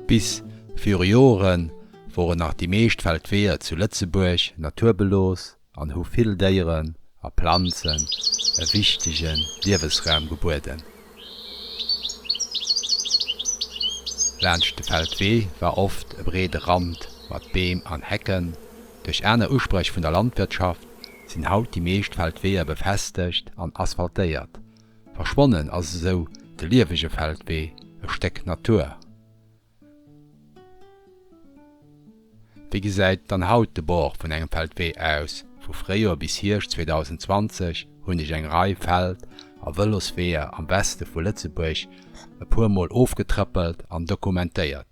Bis viru Jore woren nach déi meescht Feldweeër zu Lëtzebuerg naturbelos an hu vill Déieren a Planzen e wichtege Liewesraum gebueden. Laanscht de Feldwee war oft e breede Rand mat Beem an Hecken. Duerch aner Usprech vun der Landwirtschaft, sinn haut déi meescht Feldweeër befestegt an asphaltéiert. Verschwonnen ass esou de liewege Feldwee, e Stéck Natur. Wéi gesäit dann haut de Bord vun engem Feldwee aus? Vu Fréijoer bis Hierscht 2020 hunn ech eng Rei Feld a Vëlosweeër am Weste vu Lëtzebuerg e puer Mol ofgetrëppelt an dokumentéiert.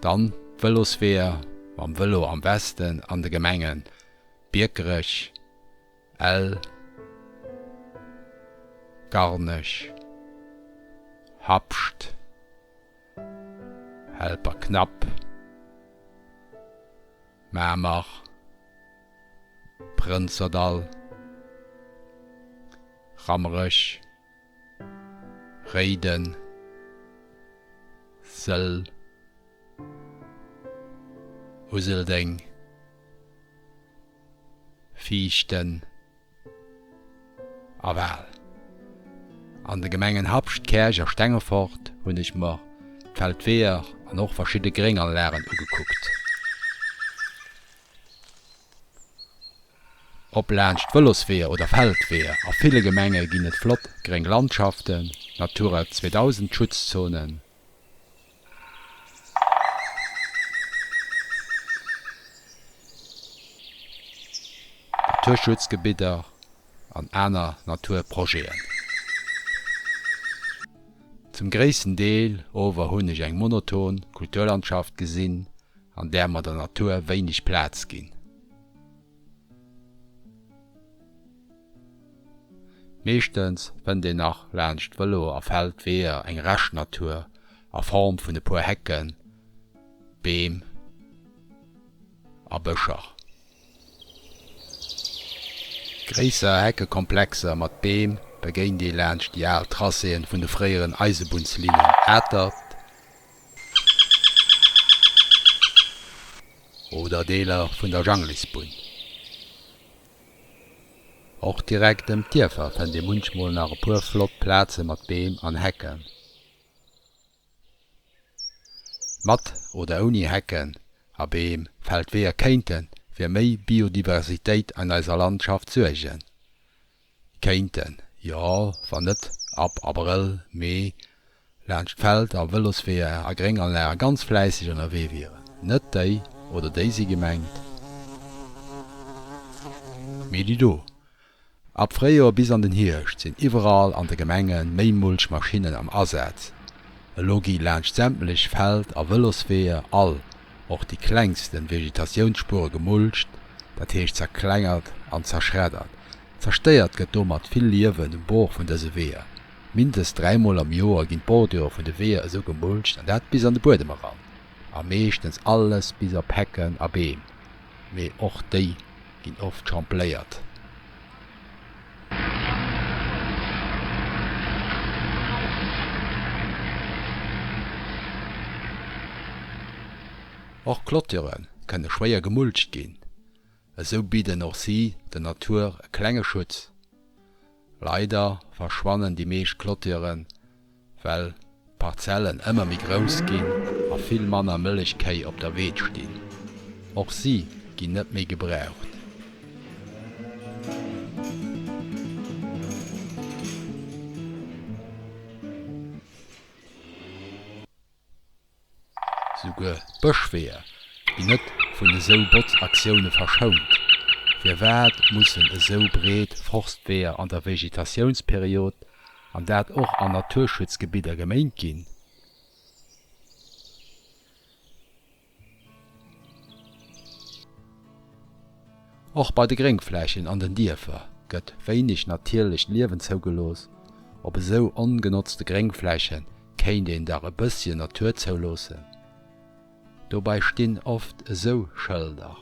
Dann d'Vëlosweeër mam Vëlo am Westen an de Gemenge Biekerech, Ell, Garnech, Habscht, Helperknapp, Mamer, Prënzerdall, Rammerech. Réiden, Sëll, Useldeng, Viichten a Wal. An de Gemengen Habscht, Käerch a Stengefort hunn ech mer d'Feldweeër an och verschidde Grénganlagen ugekuckt. Ob laanscht Vëlosweeër oder Feldweeër, a ville Gemenge ginn et flott gréng Landschaften, Natura 2000 Schutzzonen, Naturschutzgebidder an aner Naturprojeten. Zum gréissten Deel ower hunn ech eng monoton Kulturlandschaft gesinn, an där mer der Natur wéineg Plaz ginn. Meeschtens fënnt een nach laanscht d'Vëlo a Feldweeër eng Rescht-Natur a Form vun e puer Hecken, Beem a Bëscher. Gréisser Heckekomplexer mat Beem begéint ee laanscht déi al Tracéen vun de fréieren Eisebunnslinnen Atert, Oder Deeler vun der Janglisbunn. Och direkt ëm d'Dierfer fënnt ee munchmol nach e puer flott Plaze mat Beem an Hecken. Mat oder ouni Hecken a Beem fält d'Weeër kéinte fir méi Biodiversitéit an eiser Landschaft suergen. Kéinten, jo, wann net ab Abrëll, Mee laanscht d'Feld a Vëlosweeër a Grénganlagen ganz fläisseg ënnerwee wieren. Net déi oder déi si gemengt, mee déi do. Ab Fréijoer bis an den Hierscht sinn iwwerall an de Gemenge méi Mulchmaschinnen am Asaz. Elo gi laanscht sämtlech Feld a Vëlosweeër all. och déi klengsten Vegetatiounsspuere gemulcht, dat heescht zerklengert an zerschreddert. Zerstéiert gëtt domat vill Liewen um Bord vun dëse Weeër. Mindest dräimol am Joer ginn d'Bordure vun de Weeër esou gemulcht, an dat bis an de Buedem eran. A meeschtens alles bis op Hecken a Beem, mee och déi ginn oft champléiert. Och Clôture kënne schwéier gemulcht ginn, esou bidden och si der Natur e klenge Schutz. Leider verschwannen déi meescht Clôturen. Well d'Parzellen ëmmer méi grouss ginn a vill manner Mëllechkéi op der Weed stinn. Och si ginn net méi gebraucht. Souguer Bëschweeër ginn net vun esou Botzaktioune verschount. Firwat mussen esou breet Forstweeër an der Vegetatiounsperiod, an dat och an Naturschutzgebidder, geméint ginn? Och bei de Gréngflächen an den Dierfer gëtt wéineg natierlecht Liewen zougelooss. Op esou ongenotzte Gréngfläche kéint een dach e bësschen Natur zouloossen. Dobäi stinn oft esou Schëlder.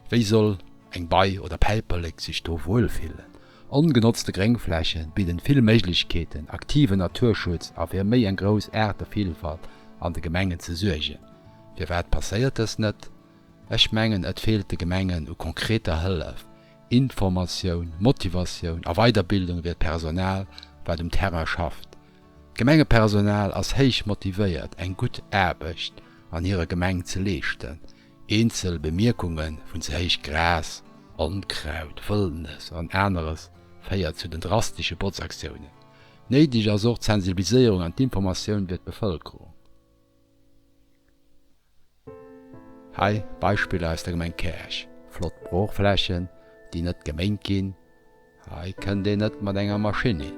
Wéi soll eng Bei oder Päiperlek sech do wuel fillen? Ongenotzte Gréngfläche bidden vill Méiglechkeeten, aktiven Naturschutz a fir méi eng grouss Aartevillfalt an de Gemengen ze suergen. Firwat passéiert dëst net? Ech mengen, et feelt de Gemengen u konkreter Hëllef, Informatioun, Motivatioun a Weiderbildung fir d'Personal, wat um Terrain schafft. D'Gemengepersonal ass héich motivéiert, eng gutt Aarbecht an hirer Gemeng ze leeschten. Eenzel Bemierkunge vun ze héich Gras, Onkraut, Wëllnes an aneres féiert zu den drastesche Botzaktiounen. Néideg ass och d'Sensibiliséierung an d'Informatioun fir d'Bevëlkerung. Hei Beispiller aus der Gemeng Käerch, Flott Broochflächen, déi net geméint ginn. Hei kënnt een net mat enger Maschinn hin.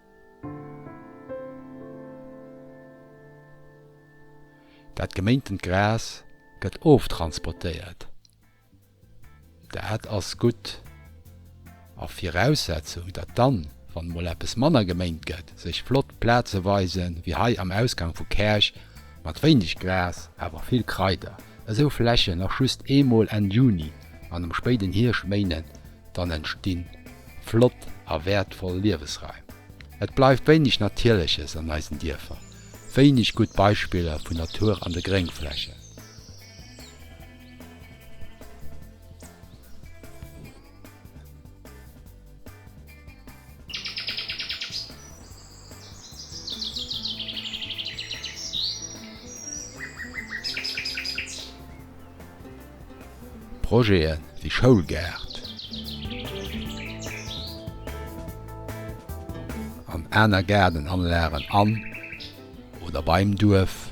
Dat geméintent Gras gëtt oftransportéiert. Dat ass gutt a Viraussetzung, datt dann, wann emol eppes manner geméint gëtt, sech flott Plaze weisen, wéi hei am Ausgang vu Käerch, mat wéineg Gras, awer vill Kraider. Esou Flächen nach just eemol Enn Juni an am spéiden Hierschméinen dann entstinn flott a wäertvoll Liewesraim. Et bleift wéineg Natierleches an eisen Dierfer, wéineg gutt Beispiller vun Natur an de Gréngflächen. Projete wéi Schoulgaart an aner Gaardenanlagen an oder beim Duerf.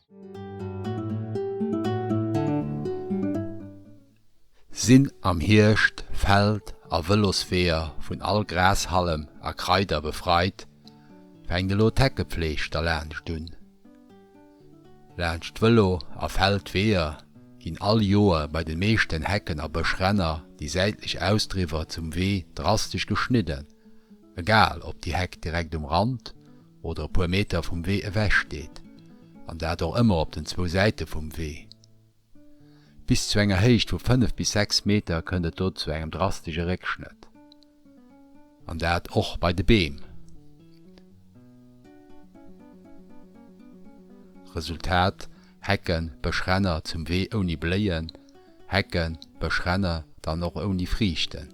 Sinn am Hierscht Feld a Vëlosweeër vun all Grashalm a Kraider befreit, fänkt elo d'Heckepfleeg derlaanscht un. Laanscht d'Vëlo a Feldweeër ginn all Joer bei de meeschten Hecken a Bëschränner déi säitlech Ausdriwwer zum Wee drastesch geschnidden, egal ob déi Heck direkt um Rand, oder e puer Meter vum Wee ewech steet, an dat och ëmmer op den zwou Säite vum Wee. Bis zu enger Héicht vu 5 bis 6 Meter kënnt et do zu engem drastesche Réckschnëtt, an dat och bei de Beem. Resultat, Hecken, Bëschränner zum Wee ouni Bléien, Hecken, Bëschränner dann och ouni Friichten.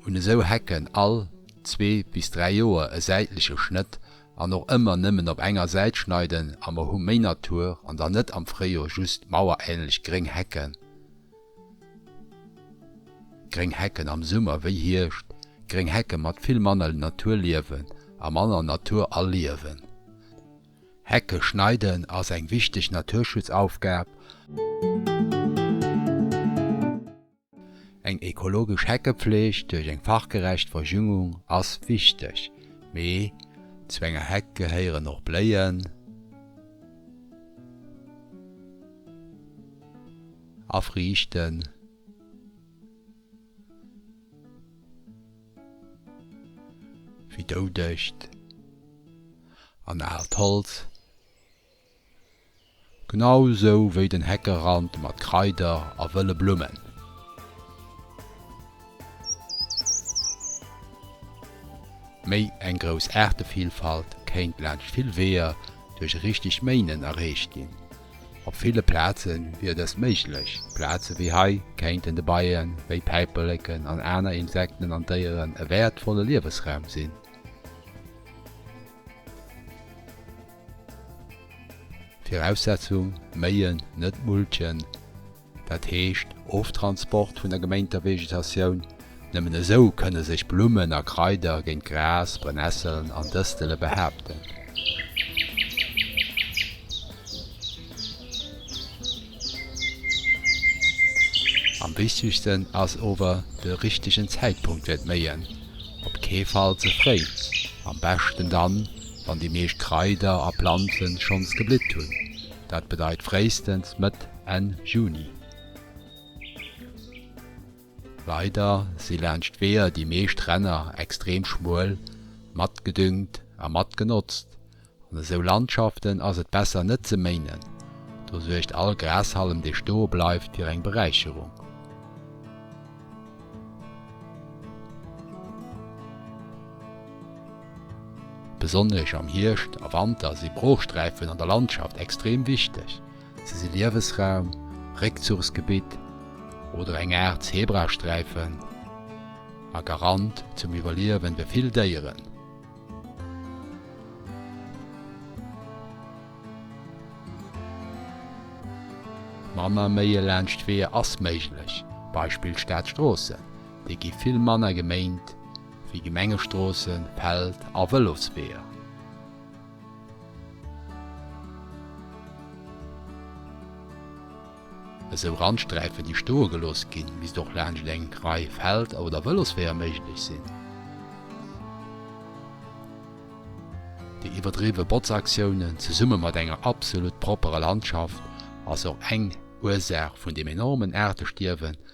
Hunn esou Hecken all zwee bis dräi Joer e säitleche Schnëtt an och ëmmer nëmmen op enger Säit schneiden a mer hu méi Natur an dann net am Fréijor just maueränlech gréng Hecken. Gréng Hecken am Summer wéi Hierscht, gréng Hecke mat vill manner Naturliewen a manner Natur a Liewen. Hecke schneiden ass eng wichteg Naturschutzaufgab. Eng ekologesch Heckepfleg duerch eng fachgerecht Verjüngung ass wichteg, mee zu enger Heck gehéieren och Bléien a Friichten. Wéi doudegt an aalt Holz, genau esou wéi den Heckerand mat Kraider a wëlle Blummen. Méi eng grouss Aartevielfalt kéint laanscht vill Weeër duerch richtegt Méinen erreecht ginn. Op ville Plaze wier dëst méiglech. Plaze wéi hei kéinten de Beie wéi Päiperleken an aner Insekten an Déieren e wäertvolle Liewesraum sinn. Viraussetzung, Méien, net mulchen, Dat heescht, Oftransport vun der geméinter Vegetatioun. Nëmmen esou kënne sech Blummen a Kraider géint Gras, Brennesselen an Dëstele behaapten. Am wichtegsten ass ower de richtegen Zäitpunkt fir d'Méien, op kee Fall ze fréi, am beschten dann, wann déi meescht Kraider a Planzen schonns geblitt hunn. Dat bedeit fréistens Mëtt, Enn Juni. Leider si laanscht d'Weeër déi meescht Renner extrem schmuel, matgedüngt a matgenotzt. An esou Landschaften ass et besser net ze méinen, do suergt all Grashalm dee stoe bleift fir eng Beräicherung. Besonnesch am Hierscht a Wanter si Broochsträifen an der Landschaft extrem wichteg. Si si Liewesraum, Réckzuchsgebitt oder eng Aart Zebrasträifen a Garant zum Iwwerliewen fir vill Déieren. Manner Méie laanscht d'Weeër ass méiglech, Beispill Stadstroossen, déi gi vill manner geméint. wéi Gemengestroossen, Feld a Vëlosweeër. Esou Randsträifen, déi stoe gelooss ginn, misst och laanscht eng Rei Feld oder Vëlosweeër méiglech sinn. Déi iwwerdriwwe Botzaktiounen, zesumme mat enger absolut propperer Landschaft, ass och eng Ursaach vun dem enormen Aartestierwen,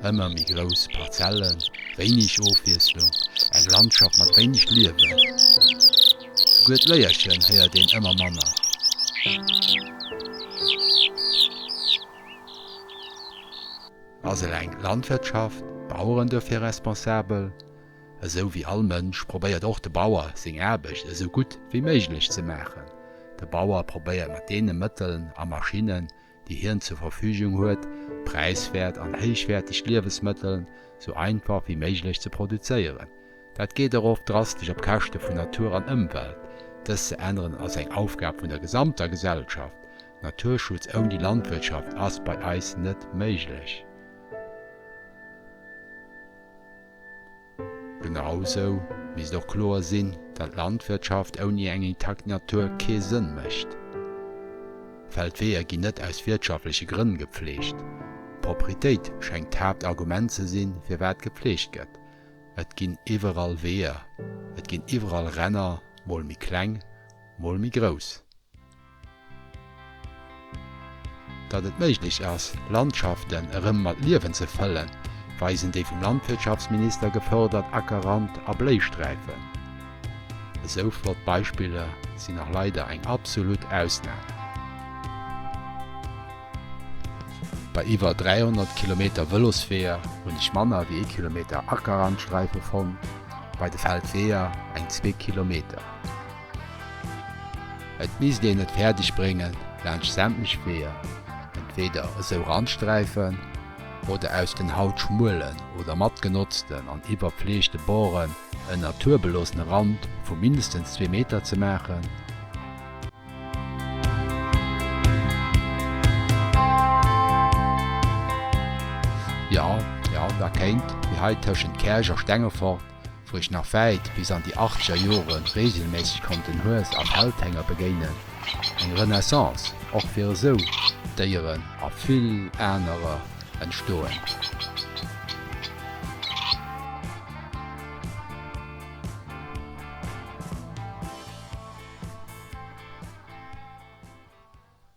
Ëmmer méi grouss Parzellen, wéineg Ofwiesslung, eng Landschaft mat wéineg Liewen. Souguer d'Léierchen héiert een ëmmer manner. Ass eleng d'Landwirtschaft, d'Baueren dofir responsabel? Esou wéi all Mënsch probéiert och de Bauer seng Aarbecht esou gutt wéi méiglech ze maachen. De Bauer probéiert mat deene Mëtteln a Maschinnen, déi hien zur Verfügung huet, präiswäert an héichwäerteg Liewesmëttel sou einfach wéi méiglech ze produzéieren. Dat geet och oft drastesch op Käschte vun Natur an Ëmwelt. Dëst ze änneren ass eng Aufgab vun der gesamter Gesellschaft. Naturschutz ouni Landwirtschaft ass bei eis net méiglech. Genausou misst och kloer sinn, datt Landwirtschaft ouni eng intakt Natur kee Sënn mécht. Feldweeër ginn net aus wirtschaftleche Grënn gepflegt. Propritéit schengt d'Haaptargument ze sinn, firwat gepflegt gëtt. Et ginn iwwerall Weeër, et ginn iwwerall Ränner, mol méi kleng, mol méi grouss. Datt et méiglech ass, Landschaften erëm mat Liewen ze fëllen, weisen déi vum Landwirtschaftsminister gefërdert Ackerrand a Bléisträifen. Esou flott Beispiller sinn nach leider eng absolut Ausnam. Bei iwwer 300 Kilometer Vëlosweeër hunn ech manner wéi ee Kilometer Ackerrandsträife fonnt, bei de Feldweeër eng zwee Kilometer. Et misst een et fäerdeg bréngen, laanscht sämtlech Weeër entweeder esou Randsträifen oder aus den haut schmuelen oder matgenotzten an iwwerfleegte Boren en naturbeloossene Rand vu mindestens zwee Meter ze maachen. Jo, jo, da kéint, wéi hei tëschent Käerch a Stengefort, wou ech nach wäit bis an déi achtzeger Jore reegelméisseg konnt den Hues a Feldhénger begéinen, eng Renaissance och fir esou Déieren a vill anerer entstoen.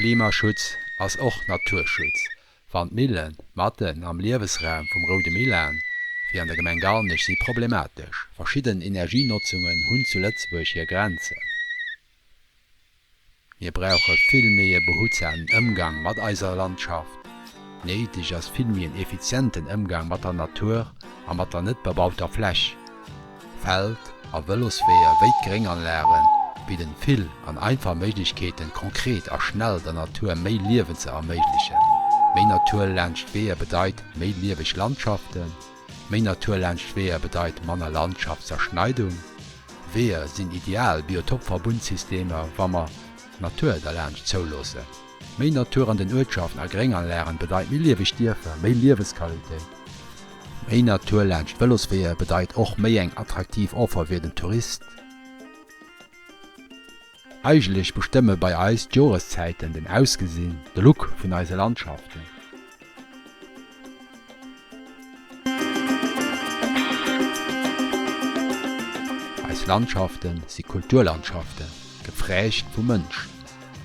Klimaschutz ass och Naturschutz. Wann d'Millen matten am Liewesraum vum Roude Millan, wéi an der Gemeng Garnech, si problematesch. Verschidden Energienotzungen hunn zu Lëtzebuerg hir Grenzen. Mir brauche vill méi e behutsamen Ëmgang mat eiser Landschaft. Néideg ass vill méi en effizienten Ëmgang mat der Natur a mat der net bebauter Fläch. Feld a Vëlosweeër wéi d'Grénganlage bidden vill an einfach Méiglechkeeten, konkret a schnell der Natur méi Liewen ze erméiglechen. Méi Natur laanscht d'Weeër bedeit méi lieweg Landschaften. Méi Natur laanscht d'Weeër bedeit manner Landschaftszerschneidung. Weeër sinn ideal Biotopverbundsystemer, wa mer d'Natur derlaanscht zouloossen. Méi Natur an den Uertschaften a Grénganlagen bedeit méi lieweg Dierfer, méi Liewesqualitéit. Méi Natur laanscht Vëlosweeër bedeit och méi eng attraktiv Offer fir den Tourist. Eigentlech bestëmme bei eis d'Joreszäiten den Ausgesinn, de Look vun eise Landschaften. Eis Landschafte si Kulturlandschaften, geprägt vum Mënsch.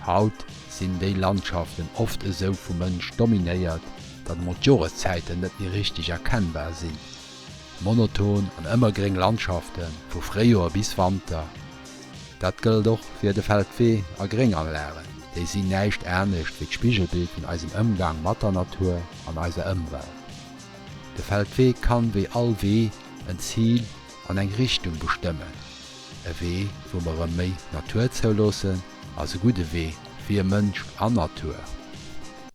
Haut sinn déi Landschaften oft esou vum Mënsch dominéiert, datt emol d'Joreszäiten net méi richteg erkennbar sinn. Monoton an ëmmergréng Landschafte vu Fréijoer bis Wanter. Dat gëllt och fir de Feldwee a Grénganlagen. Déi sinn näischt anescht wéi d'Spigelbild vun eisem Ëmgang mat der Natur an eiser Ëmwelt. De Feldwee kann, wéi all Wee, en Zil an eng Richtung bestëmmen. E Wee, wou mer erëm méi Natur zouloossen, ass e gudde Wee fir Mënsch an Natur.